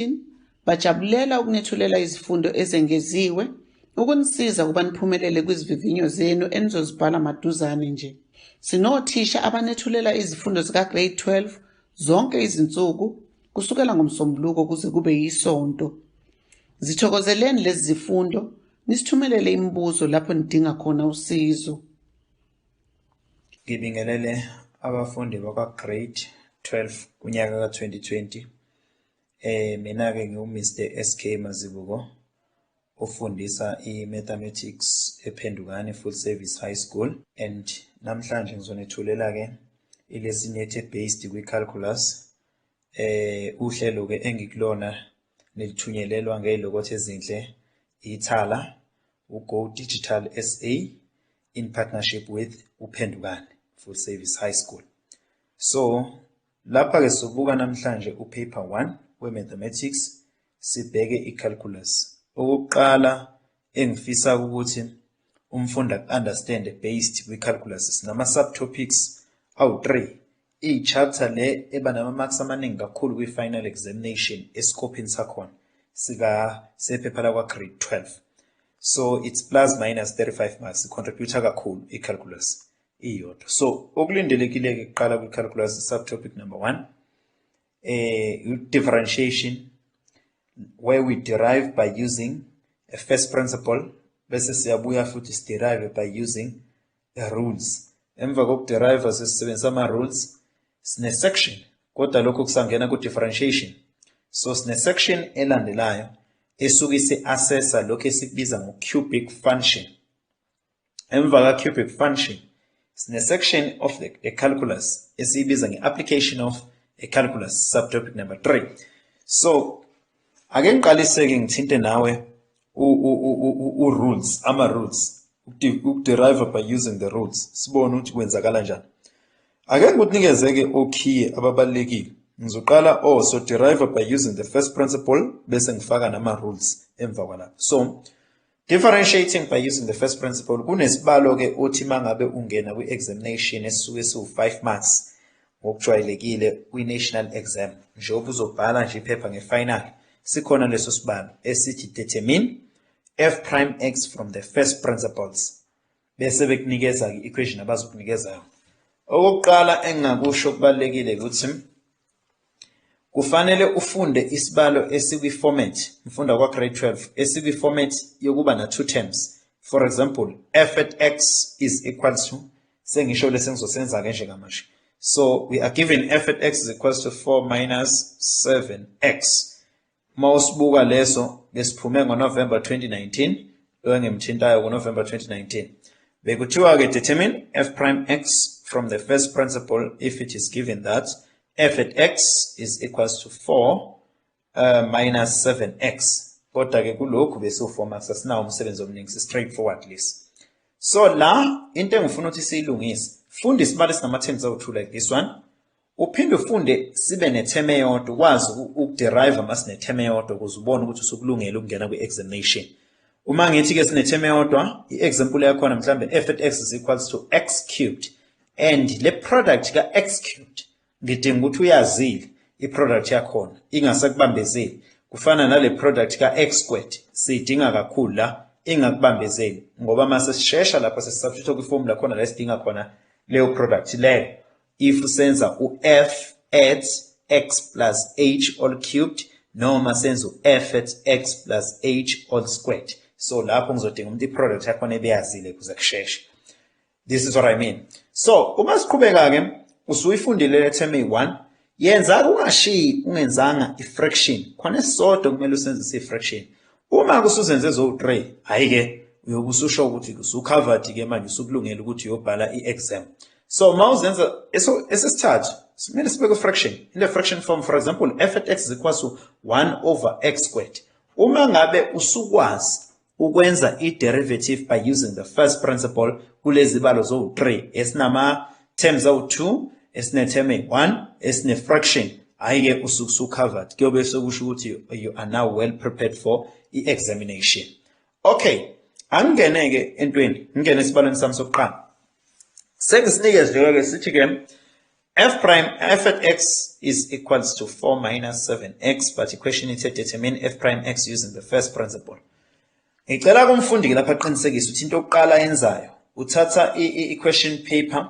Martin bajabulela ukunethulela izifundo ezengeziwe ukunisiza ukuba niphumelele kwizivivinyo zenu enizozibhala maduzane nje. Sinothisha abanethulela izifundo zikaGrade 12 zonke izinsuku kusukela ngoMsombuluko kuze kube yiSonto. Zithokozeleni lezi zifundo nisithumelele imibuzo lapho nidinga khona usizo. Ngibingelele abafundi bakwa-Grade 12 kunyaka ka-2020. Eh mina ke ngiwu Mr SK Mazibuko ofundisa i-mathematics ePhendukani Full Service High School and namhlanje ngizonethulela ke ilesson yethe based kwi-calculus eh uhlelo ke engikulona nelithunyelelwa ngezilokothe ezinhle ithala uGo Digital SA in partnership with uPhendukani Full Service High School so Lapha-ke sobuka namhlanje uPaper 1 we-Mathematics, sibheke i-Calculus. Okokuqala engifisa ukuthi umfundi aku-understande based kwi-Calculus, sinama-subtopics awu-3. Iyi-chapter le eba nama-marks amaningi kakhulu kwi-final examination esikophini sakhona sephepha lakwa-grade 12. So it's plus minus 35 marks, i-contributor kakhulu i-Calculus. iyodwa so okulindelekile-ke kuqala kwi-calculus subtopic number one um differentiation where we derive by using a first principle bese siyabuya futhi siderive by using a rules emva kokuderive sesisebenzisa ama-rules sine-section kodwa lokho kusangena ku-differentiation so sine-section elandelayo esuke isi-assessa lokhu esikubiza ngo-cubic function Emva ka-cubic function, sine-section of the, a calculus esiyibiza nge-application of a calculus subtopic number 3 so ake ngiqaliseke ngithinte nawe u-rules ama-rules ukuderive by using the rules sibone ukuthi kwenzakala njani ake ngikunikeze-ke okhiye ababalulekile ngizoqala o oh, so derive by using the first principle bese ngifaka nama-rules emva kwalapho so Differentiating by using the first principle kunesibalo ke uthi mangabe ungena kwi examination esisuke siwu 5 marks ngokujwayelekile kwi national exam njengoba uzobhala nje iphepha nge final sikhona leso sibalo esithi determine f prime x from the first principles bese bekunikeza ke equation abazokunikeza yona okokuqala engingakusho kubalekile ukuthi kufanele ufunde isibalo esikwi format mfunda kwa grade 12 esikwi format yokuba na two terms for example f at x is equal to sengisho lesengizosenza ke nje kamashe so we are given f at x is equal to 4 minus 7x Uma usibuka leso besiphume ngoNovember 2019 lo engimthintayo ngoNovember 2019 bekuthiwa-ke determine f prime x from the first principle if it is given that f at x is equals to 4 uh, minus 7x kodwa-ke kulokhu besiwufoma sasinawo umsebenzi omningi si-straight forward lesi so la into engifuna ukuthi siyilungise funda isibalo esinama-terms awu-two like this one Uphinde ufunde sibe netheme eyodwa ukwazi ukuderive uma sinetheme eyodwa ukuze ubone ukuthi usukulungele ukungena kwi-examination. Uma ngithi-ke sinetheme eyodwa, i-example yakhona mhlawumbe f at x is equals to x cubed and le product ka-x cubed ngidinga ukuthi uyazile i-product yakhona ingasekubambezeli kufana nale product ka-x squared siyidinga kakhulu la ingakubambezeli ngoba uma sesishesha lapho sesisubstitute kwi-formula khona la esidinga khona leyo product leyo If senza u-f at x plus h all cubed noma senza u-f at x plus h all squared so lapho ngizodinga umuntu i-product yakhona ebeyazile kuze kusheshe this is what i mean so uma siqhubeka-ke usuyifundile le term eyi-one yenza kungashiyi ungenzanga i-fraction khona esisodwa kumele usenzise i-fraction Uma kusuzenze ezowu-3, hhayi-ke uyobe ususho ukuthi usucovered-ke manje usukulungela ukuthi uyobhala i-exam. So uma uzenza esesithathu simele sibe kwi-fraction. In the fraction form, for example, f at x is equals to 1 over x squared. Uma ngabe usukwazi ukwenza i-derivative by using the first principle kulezi balo zowu-3 esinama terms awu-2 esinetheme eyi-1 esine-fraction hhayi-ke usuke usucovered kuyobe sekusho ukuthi you are now well prepared for i-examination okay angingene-ke entweni ngingene esibalweni sami sokuqala sengisinike nje-ke sithi-ke f prime f at x is equals to 4 minus 7x but the question is to determine f prime x using the first principle Ngicela kumfundi-ke lapha aqinisekise ukuthi into yokuqala ayenzayo uthatha i-question paper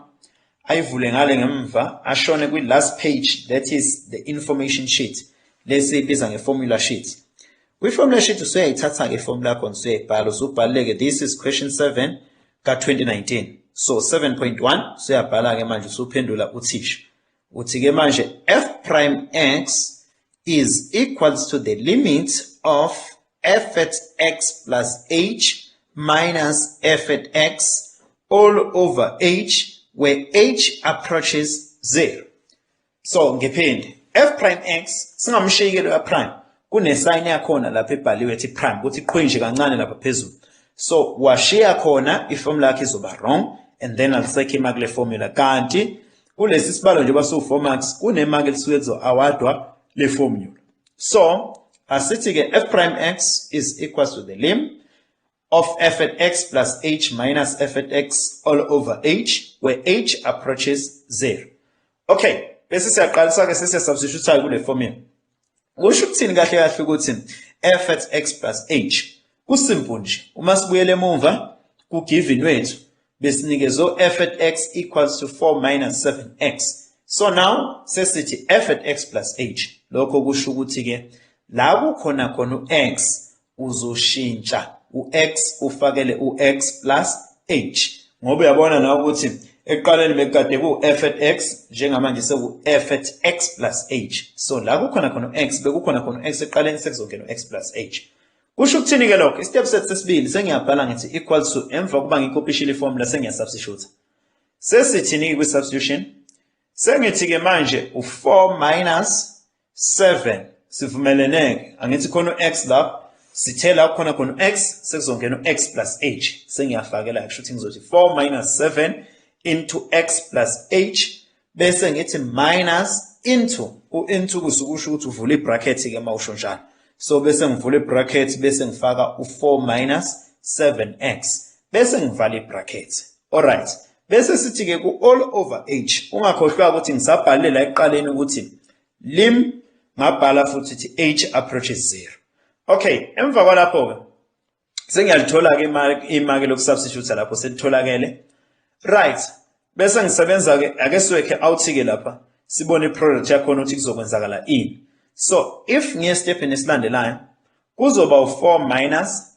ayivule ngale ngemva ashone kwi-last page that is the information sheet lesi ibiza nge-formula sheet kwi-formula sheet usuyayithatha-ke ifomu lakho usuyayibhala usubhaleke this is question 7 ka-2019 so 7.1 usuyabhala-ke manje usuphendula uthisha Uthi ke manje f prime x is equals to the limit of f at x plus h minus f at x all over h where h approaches 0. So ngiphinde f prime x singamshiyekelo ya prime kunesayini yakhona lapha ebhaliwe ethi prime ukuthi qhwinje kancane lapha phezulu. So washiya khona iformula yakhe izoba wrong and then I'll circle kule formula kanti kulesi sibalo njengoba siwu-four marks kunemaki elisuke kuzo-awadwa le-formula so asithi-ke f prime x is equals to the lim of f at x plus h minus f at x all over h where h approaches zero okay bese siyaqalisa-ke sesiyasubstitutayo kule formula Kusho ukuthini kahle kahle ukuthi effort x plus h kusimple nje uma sibuyele emuva ku given wethu besinikezo effort x equals to 4 minus 7x so now sesithi effort x plus h lokho kusho ukuthi ke la kukhona khona u-x uzoshintsha u-x ufakele u-x plus h ngoba uyabona nawe ukuthi ekuqaleni bekukade ku-f at x njengamanje seku-f at x plus h so la kukhona khona u-x bekukhona khona u-x ekuqaleni sekuzongena u-x plus h kusho ukuthini-ke lokho istep set sesibili sengiyabhala ngithi equal to emva kokuba ngikopishile ifomula sengiyasubstituta sesithini-ke kwi-substitution sengithi-ke manje u-four minus 7 sivumeleneke angithi khona u-x la sithe la khona khona u-x sekuzongena u-x plus h sengiyafakela kusho ukuthi ngizothi 4 minus 7 into x plus h bese ngithi minus into u-into kusukusho ukuthi uvula i-bracket-ke uma usho njalo so bese ngivula i-bracket bese ngifaka u-4 minus 7x bese ngivala i-bracket alright Bese sithi-ke ku-all over age ungakhohlwa ukuthi ngisabhalile la ekuqaleni ukuthi lim ngabhala futhi ukuthi age approaches zero okay emva kwalapho-ke sengiyalithola-ke imaki lokusubstitute lapho selitholakele right bese ngisebenza-ke ake siwekhe out-ke lapha sibone i-product yakhona ukuthi kuzokwenzakala ini so if ngiye esitephini esilandelayo kuzoba u-four minus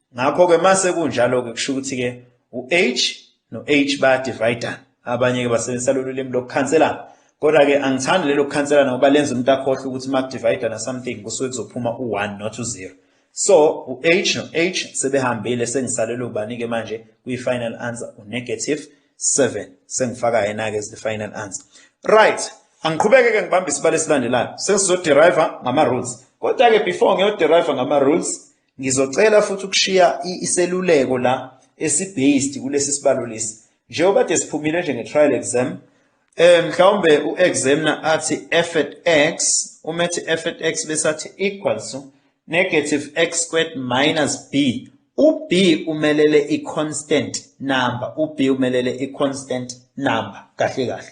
ngakho-ke mase kunjalo-ke kusho ukuthi-ke u-h no-h bayadividana abanye-ke basebenzisa lolu limi lokukhanselana kodwa-ke angithandi lelo kukhanselana ngoba lenza umuntu akhohlwe ukuthi uma kudividana something kusuke kuzophuma u-one not u-zero so u-h no-h sebehambile sengisalele ubani-ke manje kwi-final answer u-negative seven sengifaka yena-ke as the final answer right angiqhubeke-ke ngibambe isibalo esilandelayo sesizoderiva ngama-rules kodwa-ke before ngiyoderiva ngama-rules Ngizocela futhi ukushiya iseluleko la esi-based kulesi sibalo lesi. Njengoba kade siphumile nje nge-trial exam, eh mhlawumbe u-examiner athi f at x, uma ethi f at x bese athi equals to negative x squared minus b. U-b umelele i-constant number, u-b umelele i-constant number, kahle kahle.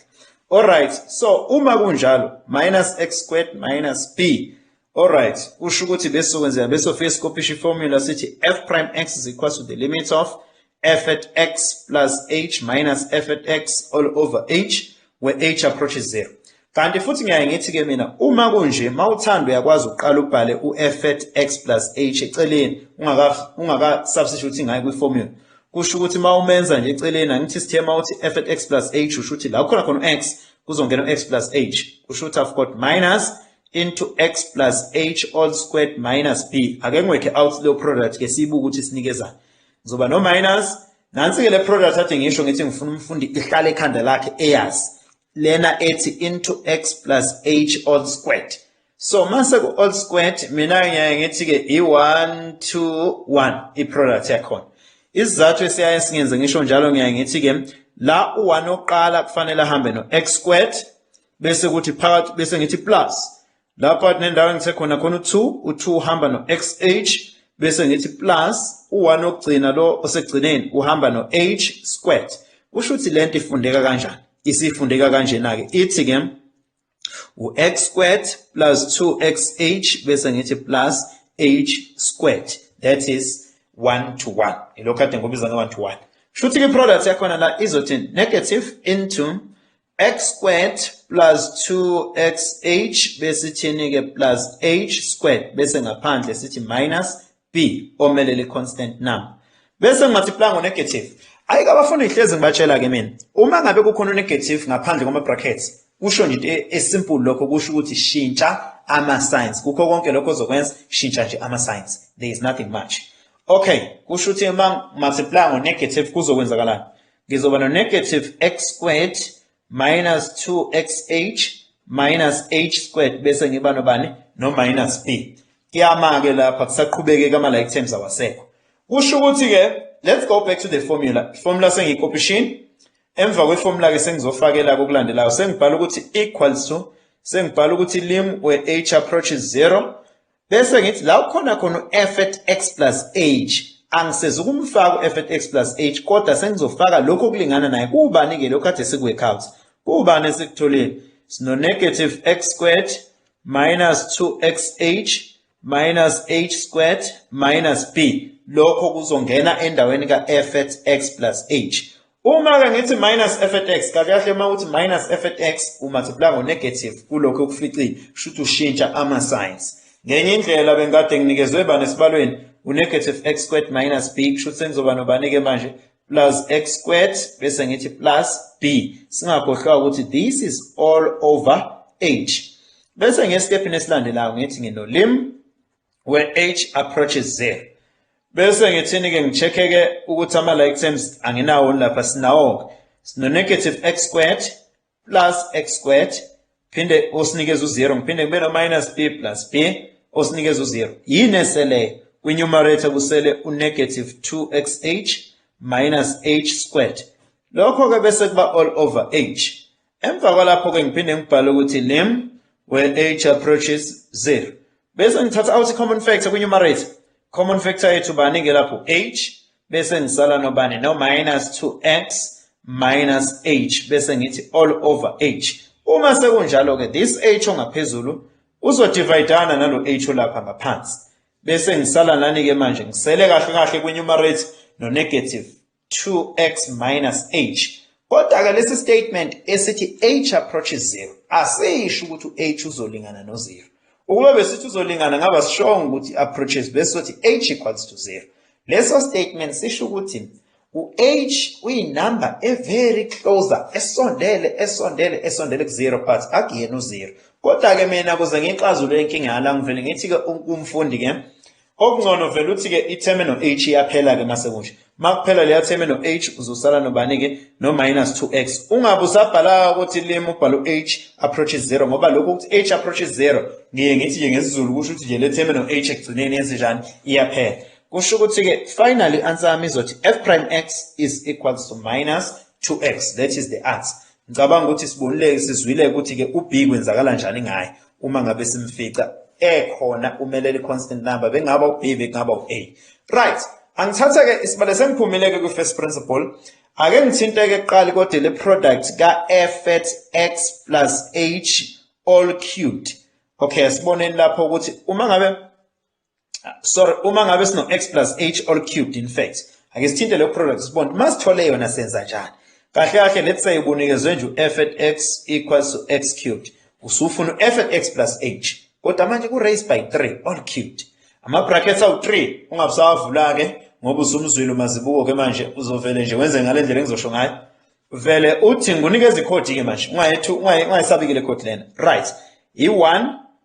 Alright, so uma kunjalo, minus x squared minus b, Alright, kusho ukuthi besizokwenzeka besofika sikopisha iformula sithi f prime x is equal to the limit of f at x plus h minus f at x all over h where h approaches 0. Kanti futhi ngiyaye ngithi ke mina uma kunje mawuthanda uyakwazi uqala ubhale uF at x plus h eceleni ungaka ungaka substitute ngayo kwi formula. Kusho ukuthi mawumenza nje eceleni angithi sithe mawuthi F at x plus h usho ukuthi la khona khona x kuzongena x plus h. Kusho ukuthi I've got minus into x plus h all squared minus b ake ngiwekhe out leyo product ke siyibuke ukuthi sinikezani ngizoba no minus nansi-ke le product athi ngisho ngithi ngifuna umfundi ihlale ekhanda lakhe eyazi lena ethi into x plus h all squared so mase ku-all squared mina ngiyaye ngithi-ke i-one two one i-product yakhona isizathu esiyaye singenze ngisho njalo ngiyaye ngithi-ke la u-one oqala kufanele ahambe no-x squared bese kuthi phakathi bese ngithi plus lapha nendawo engithe khona khona u2 u2 uhamba no xh bese ngithi plus u1 okugcina lo osegcineni uhamba no h squared kusho ukuthi lento ifundeka kanjani isifundeka kanjena ke ithi ke u-x squared plus 2xh bese ngithi plus h squared that is 1 to 1 ilokho kade ngobiza nge-1 to 1 shuthi-ke i-product yakhona la izothini negative into x squared plus 2xh besithini-ke plus h squared bese ngaphandle sithi minus b omele le-constant number bese ngimathipla ngo-negative ayi kabafundi ngihlezi ngibatshela-ke mina uma ngabe kukhona u-negative ngaphandle kwama-brackets kusho nje into esimple lokho kusho ukuthi shintsha ama-signs kukho konke lokho ozokwenza shintsha nje ama-signs there is nothing much okay kusho ukuthi uma multiply ngo-negative kuzokwenzakalani ngizoba no-negative x squared minus 2xh minus h squared bese ngiba nobani no-minus b kuyama-ke lapha kusaqhubeke kama-like terms awasekho kusho ukuthi-ke let's go back to the formula formula sengiyikopishini emva kweformula-ke sengizofakela kokulandelayo sengibhala ukuthi equals to sengibhala ukuthi lim we h approaches zero bese ngithi la ukhona khona u-effort x plus h angisezi ukumfaka u-effort x plus h kodwa sengizofaka lokhu okulingana naye kuwubani-ke lokhu kade siku-work out kuwubani esikutholile sino-negative x squared minus 2xh minus h squared minus b lokho kuzongena endaweni ka-effort x plus h Uma ke ngithi minus f at x kahle kahle uma uthi minus f at x u multiply ngo negative kulokho okuficile kusho ukuthi ushintsha ama signs ngenye indlela bengikade nginikezwe bani esibalweni u negative x squared minus b kusho ukuthi sengizoba nobani ke manje plus x squared bese ngithi plus b singakhohlwa ukuthi this is all over h bese ngesitephini esilandelayo ngithi ngino lim where h approaches z bese ngithini ke ngicheckeke ukuthi ama like terms anginawo lapha sinawo sino negative x squared plus x squared phinde osinikeza u0 ngiphinde kube no minus b plus b osinikeza u0 yini esele kwi numerator kusele u negative 2xh minus h squared lokho ke bese kuba all over h Emva kwalapho-ke ngiphinde ngibhale ukuthi name where h approaches 0 bese ngithatha out i-common factor kwi-numerator common factor yethu bani-ke lapho h bese ngisala nobani no-minus 2x minus h bese ngithi all over h uma sekunjalo-ke this h ongaphezulu uzodivayidana nalo h olapha ngaphansi bese ngisala nani-ke manje ngisele kahle kahle kwi-numerator no-negative 2x minus h kodwa-ke lesi statement esithi h approaches zero asisho ukuthi u-h uzolingana nozero ukube besithi uzolingana ngaba sishongo ukuthi approaches bese sothi h equals to zero leso statement sisho ukuthi u-h uyinumber e-very closer esondele esondele esondele ku-zero but akuyena uzero kodwa-ke mina kuze ngiyixazule inkinga yala ngivele ngithi-ke umfundi-ke Okungcono vele uthi ke itheme no h iyaphela ke mase kusho. Makuphela leya theme no h uzosala nobani ke no minus 2x. Ungabe usabhala ukuthi lim ubhala u h approaches 0 ngoba lokho ukuthi h approaches 0 ngiye ngithi ke ngesizulu kusho ukuthi nje le theme no h ekugcineni yenze njani iyaphela. Kusho ukuthi ke finally answer yami izothi f prime x is equals to minus 2x. That is the answer. Ngicabanga ukuthi sibonile sizwile ukuthi ke uB kwenzakala njani ngaye uma ngabe simfica ekhona umelele constant number bengaba uB bekungaba uA. Right, angithathe ke isibale sengiphumile ke kwi first principle. Ake ngithinte ke kuqali kodwa le product ka F at X plus H all cubed. Okay, siboneni lapho ukuthi uma ngabe sorry uma ngabe sino x plus h all cubed in fact ake sithinte leyo product sibone uma sithole yona senza njani kahle kahle let's say ubunikezwe nje u-f at x equals to x cubed usufuna u-f at x plus h kodwa manje ku-raise by 3 all cubed ama-brackets awu-3 ungabusawavula-ke ngoba usumzwile umazibuko-ke manje uzovele nje wenze ngale ndlela engizosho ngayo vele uthi ngunikeza ikhodi-ke manje ungayesabikile ikhodi lena right yi-1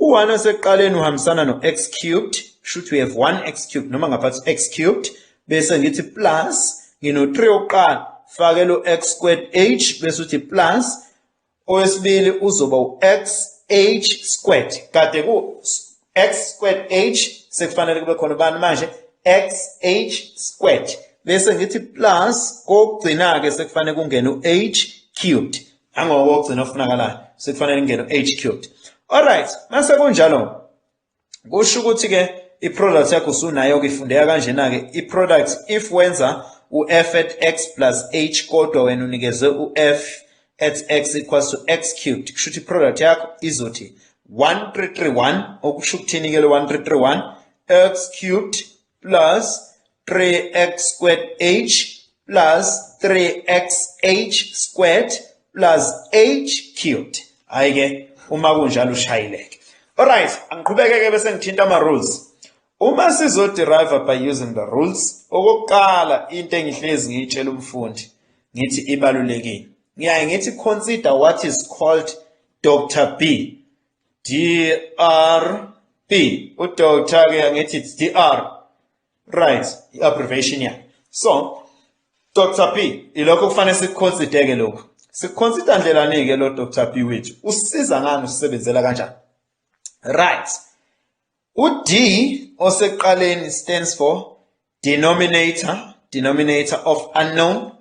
U-1 osekuqaleni uhambisana no-x cubed, shuthi we have 1x cubed noma ngaphathi x cubed bese ngithi plus ngino-3 okuqala fakela u-x squared h bese uthi plus owesibili uzoba u-x h squared kade ku x squared h sekufanele kube khona ubani manje x h squared bese ngithi plus kokugcina-ke sekufanele kungene u-h cubed Angoko ogcina ofunakalayo sekufanele ingene age cubed. All right, mase kunjalo. Kusho ukuthi ke iproduct yakho usunayo ke ifundeka kanjena ke iproduct if wenza uF at x plus h kodwa wena unikezwe uF at x equals to x cubed kusho ukuthi iproduct yakho izothi 1331 okusho ukuthini ke lo 1331 x cubed plus 3x squared h plus 3xh squared plus h cubed hayi ke uma kunjalo ushayileke alright angiqhubeke ke bese ngithinta ama rules uma sizo derive by using the rules okokuqala into engihlezi ngiyitshela umfundi ngithi ibalulekile ngiyaye ngithi consider what is called Dr B DR B uDr ke ngithi DR right i-abbreviation yakhe so dr p ilokho kufanele sikuconsideke lokhu sikuconsider ndlelani-ke lo dr p wethu usiza ngani usisebenzela kanjani right u-d osekuqaleni stands for denominator denominator of unknown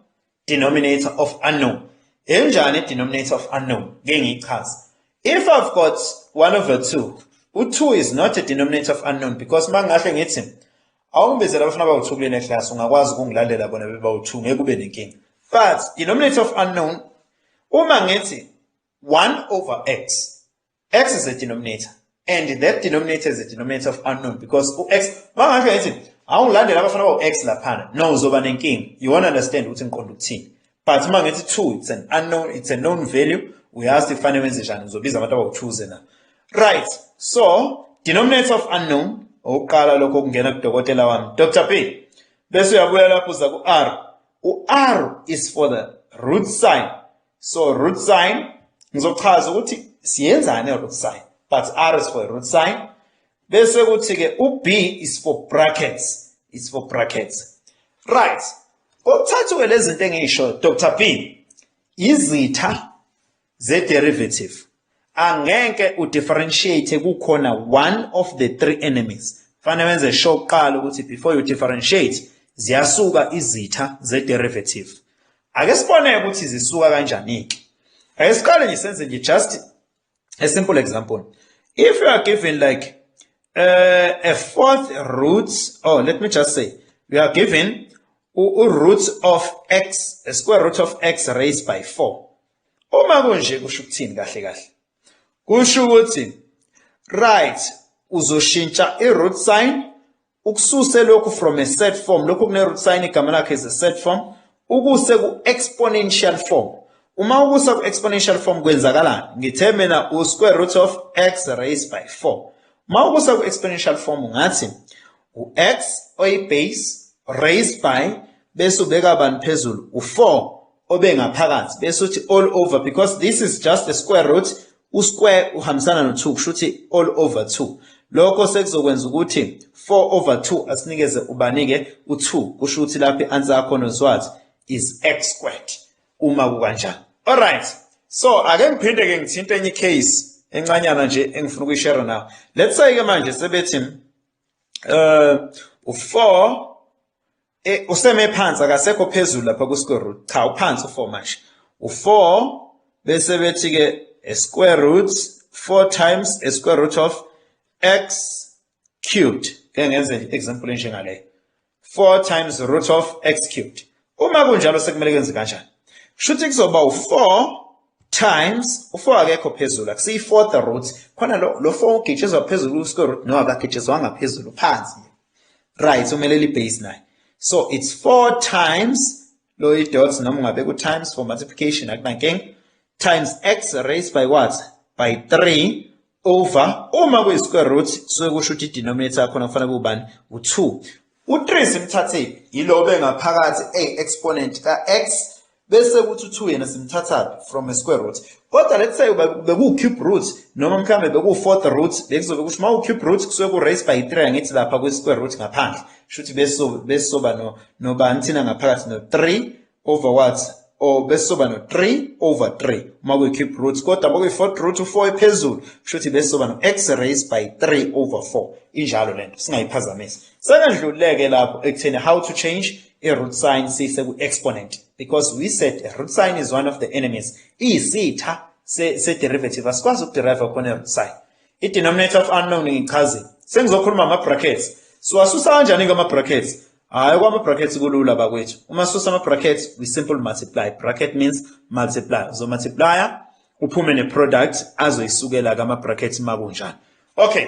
denominator of unknown enjani denominator of unknown ke ngiyichaza if i've got 1 over 2 u2 is not a denominator of unknown because mangahle ngithi awungibizela abafuna bawu2 kulena class ungakwazi ukungilalela bona bebawu2 ngeke ube nenkinga but denominator of unknown uma ngithi 1 over x x is a denominator and that denominator is a denominator of unknown because u-x mangasho ngithi awungilandela abafana bawu-x laphana no uzoba nenkinga you won't understand ukuthi ngiqonda ukuthini but uma ngithi two it's an unknown it's a known value uyazi kufanele wenze njani uzobiza abantu abawu-twoze na right so denominator of unknown okuqala lokho okungena kudokotela wami dr p bese uyabuya lapho uza ku-r u-r is for the root sign so root sign ngizochaza ukuthi siyenzani root sign but r is for root sign bese kuthi ke u b is for brackets is for brackets right kokuthathu ke lezi zinto engisho Dr B izitha ze derivative angeke u differentiate kukhona one of the three enemies fanele wenze sure kuqala ukuthi before you differentiate ziyasuka izitha ze derivative ake sibone ukuthi zisuka kanjani ke ake siqale nje senze nje just a simple example if you are given like uh, a fourth root oh let me just say we are given u root of x a square root of x raised by 4 Uma kunje kusho ukuthini kahle kahle? Kusho ukuthi right uzoshintsha i-root sign ukususe lokhu from a set form lokhu kune-root sign igama lakhe is a set form ukuse ku-exponential form uma ukusa ku-exponential form kwenzakalani ngithe mina u-square root of x raised by 4 uma ukusa ku-exponential form ngathi u-x oyibase raised by bese ubeka bani phezulu u-4 obengaphakathi bese uthi all over because this is just a square root usquare uhambisana no 2 kusho ukuthi all over 2 lokho sekuzokwenza ukuthi 4 over 2 asinikeze ubanike u2 kusho ukuthi lapha i-answer yakho nozwathi is x squared uma kukanjani alright so ake ngiphinde ke ngithinte enye case encanyana nje engifuna ukuyishare nawe let's say ke manje sebethi uh u4 Eh useme phansi akasekho phezulu lapha ku square root. Cha uphansi u4 manje. U4 bese bethi ke a square root 4 times a square root of x cubed. Ke ngenze example njengale. 4 times root of x cubed. Uma kunjalo sekumele kwenze kanjani? Shuthi kuzoba u4 times u4 akekho phezulu akusiyi fourth root khona lo lo 4 ugitshizwa phezulu ku square root no akagitshizwanga phezulu phansi right umele li base naye so it's 4 times lo i dots noma ngabe ku times for multiplication akunankinga times x raised by what by 3 over uma kuyi square root suke kusho ukuthi denominator yakho kufanele kubani u2 u3 simthathephi yilobe ngaphakathi e exponent ka x bese kuthi u-2 yena simthathaphi from a square root kodwa let's say bekuwu-cube root noma mhlawumbe bekuwu-fourth root bekuzobe kusho uma u-cube root kusuke ku-raise by 3 angithi lapha kwi-square root ngaphandle kusho ukuthi besizoba nobani thina ngaphakathi no-3 over what or besizoba no-3 over 3 uma kuyi-cube root kodwa bokuyi-fourth root u-4 ephezulu kusho ukuthi besizoba no-x raise by 3 over 4 injalo le nto singayiphazamisi sekandlululeke lapho ekutheni how to change i-root sign siyise ku-exponent because we said root sign is one of the enemies iyisitha se-derivative asikwazi ukuderive khona i-root sign i-denominator of unknown ngichazile sengizokhuluma ama-brackets siwasusa kanjani-ke ama-brackets hhayi kwama-brackets kulula bakwethu uma susa ama-brackets we simple multiply bracket means multiply uzomultiplya uphume ne-product azoyisukela-ke ama-brackets makunjani okay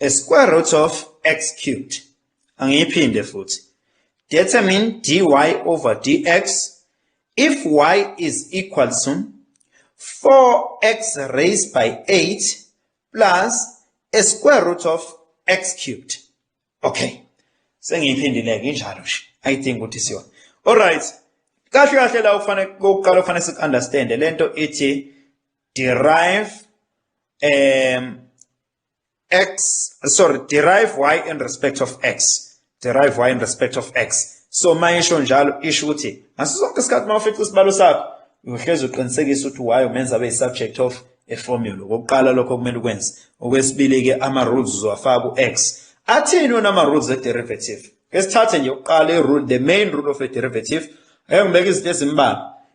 A square root of x cubed. Angiyiphinde futhi. Determine dy over dx if y is equal to 4x raised by 8 plus a square root of x cubed. Okay. Sengiyiphindile-ke injalo nje. Ayidingi ukuthi siyona. All right. Kahle kahle la ufanele kokuqala ufanele si understand lento ithi derive um x sorry derive y in respect of x derive y in respect of x so mayisho njalo isho ukuthi ngaso sonke isikhathi uma ufica isibalo sakho uyohlezi uqinisekisa ukuthi y umenza abe subject of a formula okokuqala lokho kumele ukwenze okwesibili ke ama rules uzowafaka u-x athini wona ama rules e derivative esithathe nje ukuqala i rule the main rule of a derivative ayongibeka izinto ezimbalwa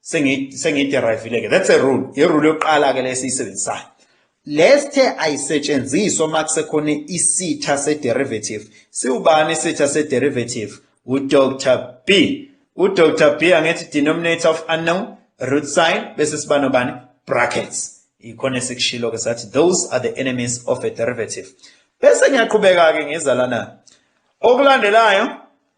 sengiyiderive-ile ke that's a rule irule yokuqala ke lesiyisebenzisayo lesthe ayisetshenziswa uma kusekhona isitha sederivative siwubani isitha sederivative udr b udr b angithi denominator of unknown root sign bese siba nobani brackets ikhona esikushilo ke sathi those are the enemies of a derivative bese ngiyaqhubeka-ke ngizalana okulandelayo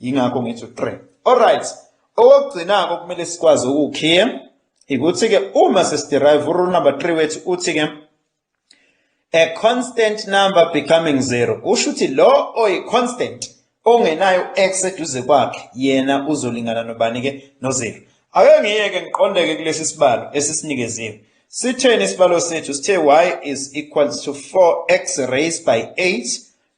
yingakho ngithi u-3 alright okugcinako kumele sikwazi ukukhiye ikuthi-ke uma sesiderive urule number 3 wethu uthi-ke a constant number becoming zero kusho ukuthi lo oyi-constant ongenayo u-x eduze kwakhe yena uzolingana nobani-ke nozero ake ngiyeke ngiqondeke kulesi sibalo esisinikeziwe sitheni isibalo sethu sithe y is equals to 4x raised by 8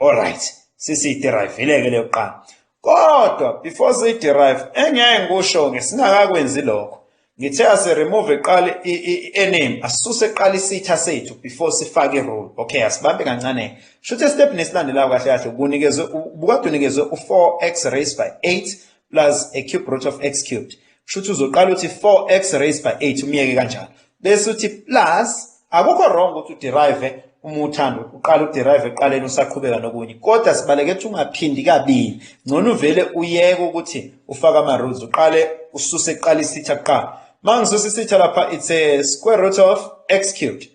Alright, sisiyiderive-ke leyo kuqala. Kodwa before siyiderive engeke ngikusho ngesingakakwenzi lokho. Ngithe asiremove iqali i-ename asisuse iqali isitha sethu before sifake i-roll. Okay, asibambe kancane. Shuthi step nesilandelayo kahle kahle ubunikezwe ubukade unikezwe u4x raised by 8 plus a cube root of x cubed. Shuthi uzoqala uthi 4x raised by 8 umyeke kanjalo. bese uthi plus akukho wrong ukuthi uderive uma uthanda uqala uderive eqaleni usaqhubeka nokunye kodwa sibaleke ukuthi ungaphindi kabili ngcono uvele uyeke ukuthi ufake ama-rules uqale ususe kuqala isitha kuqala uma ngisusa isitha lapha it's a square root of x cubed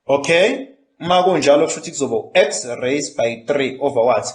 okay uma kunjalo kusho ukuthi kuzoba u-x raised by 3 over what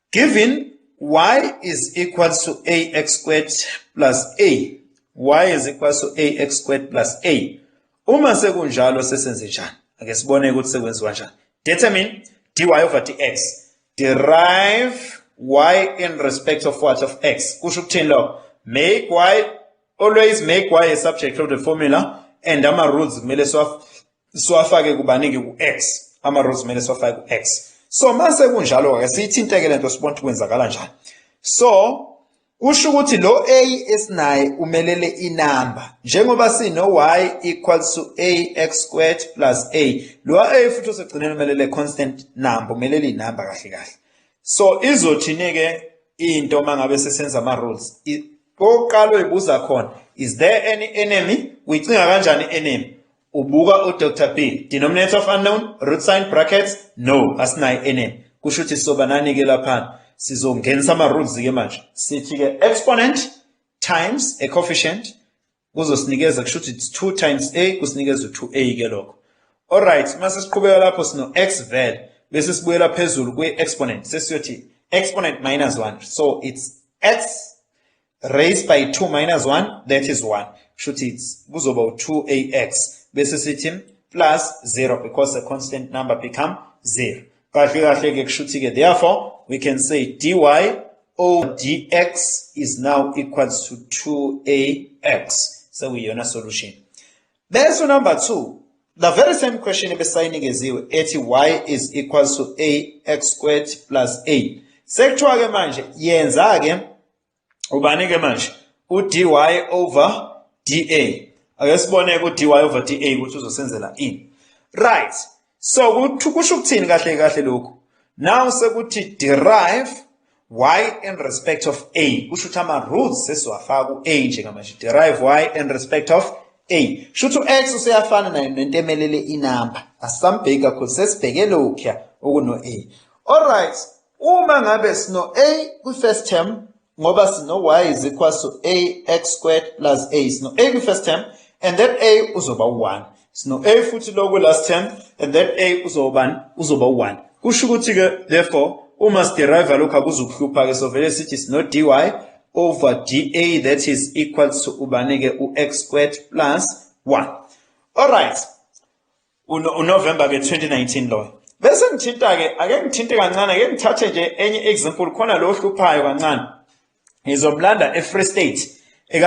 Given y is equal to ax squared plus a, y is equal to ax squared plus a. Uma sekunjalo sesenze njani? Ake sibone ukuthi sekwenziwa njani. Determine dy over dx. Derive y in respect of what of x. Kusho ukuthini lokho? Make y always make y a subject of the formula and ama rules kumele siwa siwafake kubanike ku-x ama-rows kumele siwafake ku-x so mase kunjalo-ke siyithinteke le nto sibona ukuthi kwenzakala njani so kusho ukuthi lo a esinaye umelele inamba njengoba sino-y equals to a x squared plus a lo a futhi osegcineni umelele constant number umelele inamba kahle kahle so izothini-ke into uma ngabe sesenza ama-rules oqala uyibuza khona is there any enemy uyicinga kanjani enemy Ubuka uDr P. Denominator of unknown, root sign, brackets, no, asinayo enemy. Kusho ukuthi sobanani-ke laphana. Sizongenisa ama-rules-ke manje. Sithi-ke exponent times a coefficient kuzosinikeza kusho ukuthi it's 2 times a kusinikeza u-2a ke lokho. Alright, mase siqhubeka lapho sino x vel bese sibuyela phezulu kwi-exponent sesiyothi exponent minus 1 so it's x raised by 2 minus 1 that is 1 shuthi kuzoba u2ax bese sithi plus 0 because the constant number become 0 kahle kahle ke kushuthi ke therefore we can say dy over dx is now equals to 2ax so we yona solution bese number 2 the very same question ebesayinikeziwe ethi y is equals to ax squared plus a sekuthiwa ke manje yenza ke ubani ke manje udy over da ake sibone udy over da ukuthi uzosenzela ini right so kusho ukuthini kahle kahle lokhu now sekuthi derive y in respect of a kusho ukuthi ama-rules sesiwafaka ku-a njengamanje derive y in respect of a kusho ukuthi u-x useyafana nayo nento emelele inamba asisambheki kakhulu sesibheke lokhuya okuno-a all right Uma ngabe sino-A kwi-first term ngoba sino-y is equals to ax squared plus a sino-a kwi-first term and that a uzoba u-1 sino-a futhi lo kwi-last term and that a uzobani uzoba u-1 kusho ukuthi-ke therefore uma sideriva lokhu akuzukuhlupha-ke sovele sithi sino-dy over dA that is equal to ubani-ke u-x squared plus 1 alright uNovember ke 2019 loyo bese ngithinta ke ake ngithinte kancane ake ngithathe nje enye example khona lo ohluphayo kancane ngizomlanda eFree State eka